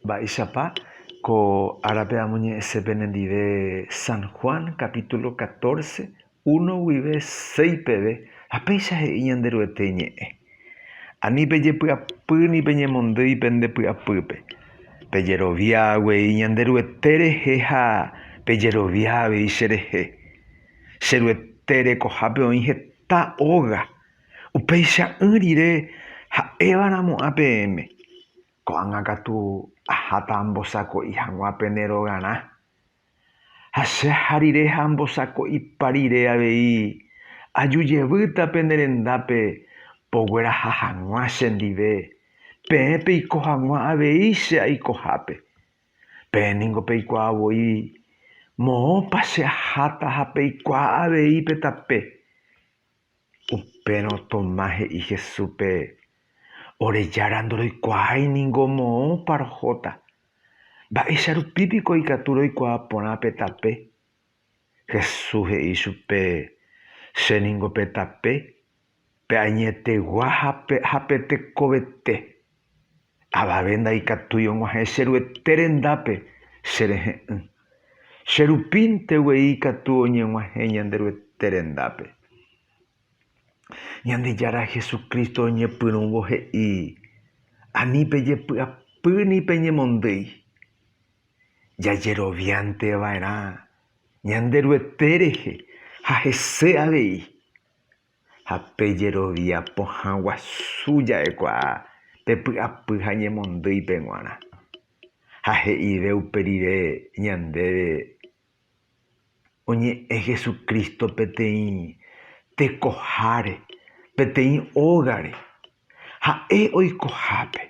Mba'éichapa ko árape amoñe'ẽse penendive San Juan capítulo catorce, uno guive seis peve, ha péicha he'i Ñanderuete ñe'ẽ, Ani pejepy'apy ni peñemondýi pende py'apýpe, pejerovia guei Ñanderuete rehe ha pejerovia avei cherehe. Che Ruete rekohápe oĩ heta óga, upeicha'ỹ rire ha'éva ramo'ã peẽme. Ko'ág̃a katu aháta ambosako'i hag̃ua pene rogarã. Ha che aha rire ha ambosako'ipa rire avei, aju jevýta pene rendápe pogueraha hag̃ua chendive, peẽ peiko hag̃ua avei che aikohápe. Peẽ ningo peikuaa voi moõpa che aháta ha peikuaa avei pe tape. Upérõ Tomás he'i Jesúspe, Ore Jára ndoroikuaái ningo moõpa rohóta. Mba'éicha rupi piko ikatu roikuaa porã pe tape? Jesús he'i chupe, Che ningo pe tape, pe añetegua ha pe tekovete. Avave ndaikatúi og̃uahẽ che Ruete rendápe che rehe'ỹ. Che rupínte guei ikatu oñeg̃uahẽ ñande Ruete rendápe. Ñandejára Jesucristo oñepyrũvo he'i, Ani pejepy'apy ni peñemondýi. Jajeroviánte va'erã ñande Ruete rehe ha hese avei. ha pe jerovia pohã guasu ja'ekuaa pe py'apy ha ñemondýi pe g̃uarã, ha he'ive upe rire ñandéve oñe'ẽ Jesucristo peteĩ tekoháre, peteĩ ógare, ha'e oikohápe,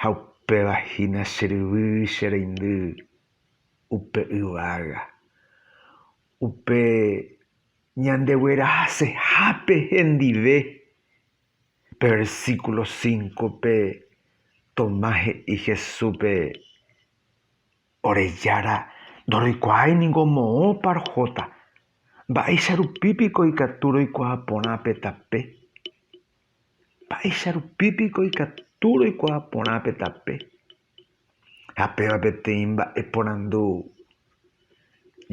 ha upéva hína che ryvy che reindy upe yvága, upe Ñandeguerahasehápe hendive, pe versículo cinco-pe, Tomás he'i Jesúspe, Ore Jára ndoroikuaái ningo moõpa rohóta, mba'éicha rupi piko ikatu roikuaa porã pe tape? Mba'éicha rupi piko ikatu roikuaa porã pe tape? Ha péva peteĩ mba'e porandu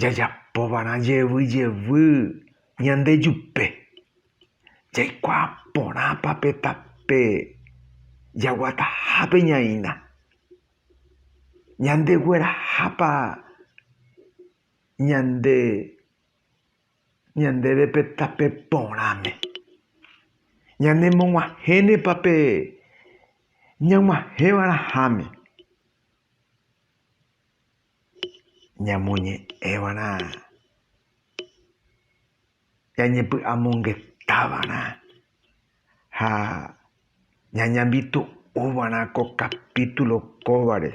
jajapovarã jevy jevy ñande jupe, jaikuaa porãpa pe tape jaguatahápe ñaína, ñandeguerahápa ñande ñandéve pe tape porãme. Ñanemog̃uahẽnepa pe ñag̃uahẽva'erãháme, ñamoñe'ẽva'erã, ñañepy'amongetávarã. ha ñañambitu'u va'erã ko kapítulo kóvare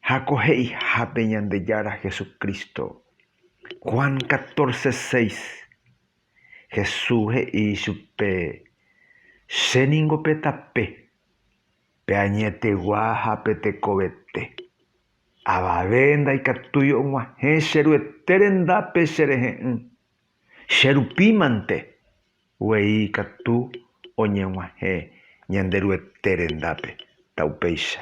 ha ko he'ihápe Ñandejára Jesucristo. Juan catorce seis, Jesús he'i ichupe, Che ningo pe tape, pe añetegua ha pe tekovete. Avave ndaikatúi og̃uahẽ che Ruete rendápe che rehe'ỹ. Che rupi mante guei ikatu oñeg̃uahẽ Ñanderuete rendápe, ta upéicha.